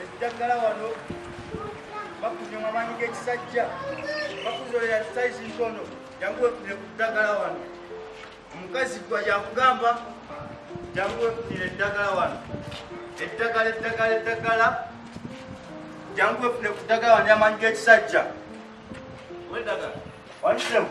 Ekijaggala wano bakunywa mu amaanyi g'ekisajja bakuzolera sayizi ntono jangu wefunire ku ddagala wano omukazi gwa yakugamba jangu wefunire eddagala wano eddagala eddagala eddagala jangu wefunire ku ddagala wano amaanyi g'ekisajja wedagala wanisemu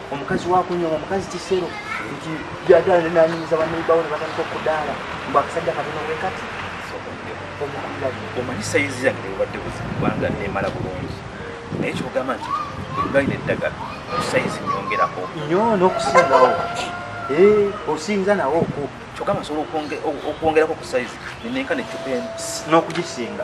omukazi wakunyoma omukazi kisero nti byagala nenanyumiza baneibawo nebatandika okudaala mbu akasajja katono bwe kati omanyi sayizi yange bwebadde buzibu kubanga nemala bulungi naye kyogamba nti bwebalina eddagala sayizi nyongerako nyo nokusingawo eh, osinza nawo oku kyogamba nsobola okwongerako ku sayizi nenenka necupa eno nokugisinga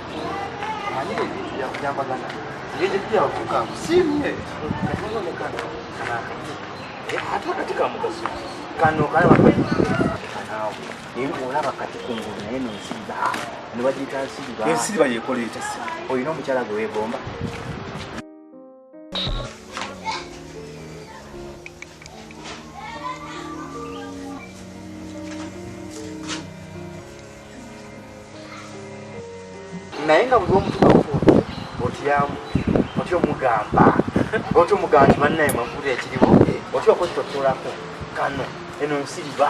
kano kalaba olaba kati kungulu naye nensiriba nebagiyita nsiriba ensiriba yekola etasi olina omukyala gwe wegomba naye nga buli omutukafu otyamu oti omugamba oti omugamba nti bannaye mwekuli ekiriwo oti okozitotoolako kano eno nsiriba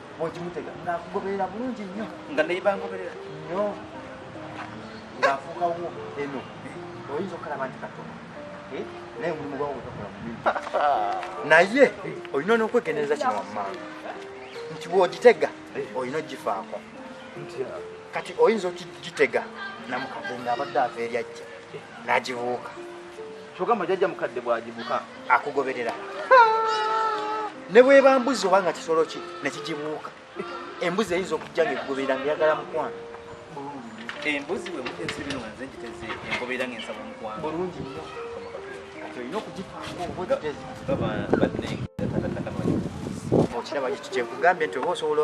bwokimutega ngaakugoberera bulungi nnyo nga naye bangoberera nnyo ngaafuukawo eno oyinza okukalaba nti katono eh? naye mulimu gwawo gwegakola mubi naye olina onokwegendereza kino wammanga nti bwogitega olina ogifaako kati oyinza okigitega namukadde ngaabadde ava eryajja n'agibuuka kyogamba jajja mukadde bwagibuka akugoberera ne bweba mbuzi oba nga kisolo ki nekigibuuka embuzi eyinza okujja nga ekugoberera nga eyagala mukwano embuzi wemutezirinwanze ngiteze engoberera nga ensaba mukwano bulungi nyo olina okugifaako obwetezi okiraba kyekugambye nti oba osobola